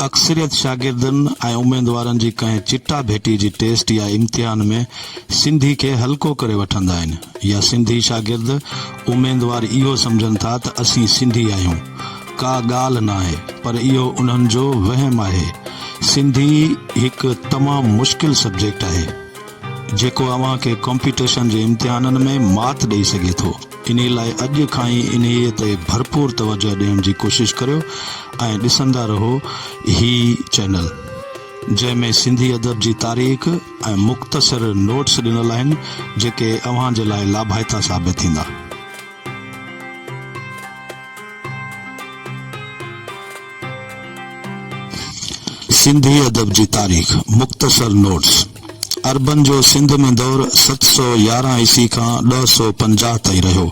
اڪثريت شاگردن ۽ اميدوارن جي ڪنهن چٽا ڀيٽي جي ٽيسٽ يا امتحان ۾ سنڌي کي هلڪو ڪري وٺندا آهن يا سنڌي شاگرد اميدوار اهو سمجهن ٿا ته اسين سنڌي آهيون ڪا ڳالهه ناهي پر اهو انهن جو وهم آهي سنڌي هڪ تمام مشڪل سبجيڪٽ آهي جيڪو اوهان کي ڪمپيٽيشن جي امتحانن ۾ مات ڏئي سگهي ٿو. انهي لاء اڄ کان ئي انهيء تي ڀرپور توجهه ڏيڻ جي ڪوشش ڪريو ۽ ڏسندا رهو هي چينل جنهن ۾ سنڌي ادب جي تاريخ ۽ مختصر نوٽس ڏنل آهن جيڪي اوهان جي لاء لاڀائتا ثابت ٿيندا. سنڌي ادب جي تاريخ، مختصر نوٽس، عربن جو سنڌ ۾ دور ست سؤ يارهن عيسوي کان ڏهه سؤ پنجاهه تائين رهيو.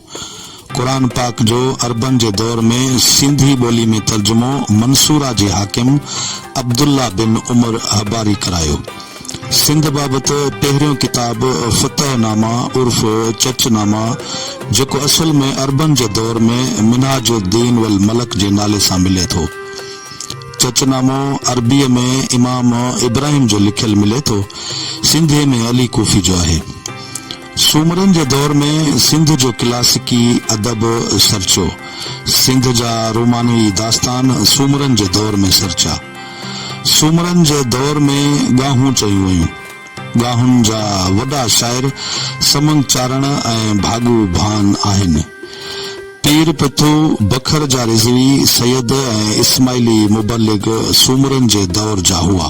قرآن پاڪ جو عربن جي دور ۾ سنڌي ٻولي ۾ ترجمو منصوره جي حاڪم عبدالله بن عمر حباري ڪرايو. سنڌ بابت پهريون ڪتاب فتح نامه عرف چچ نامه جيڪو اصل ۾ عربن جي دور ۾ منهاج الدين والملڪ جي نالي سان ملي ٿو. چچ نامو عربيء ۾ امام ابراهيم جو لکيل ملي ٿو. سنڌيء ۾ علي ڪوفي جو آهي. سومرن جي دور ۾ سنڌ جو ڪلاسيڪي ادب سرچيو. سنڌ جا رومانوي داستان سومرن جي دور ۾ سرچيا. سومرن جي دور ۾ ڳاهون چيون ويون. ڳاهن جا وڏا شاعر سمنگ چارڻ ۽ ڀاڳو ڀان آهن. پير پٿو، بکر جا رضوي، سيد ۽ اسماعيلي مبلغ سومرن جي دور جا هئا.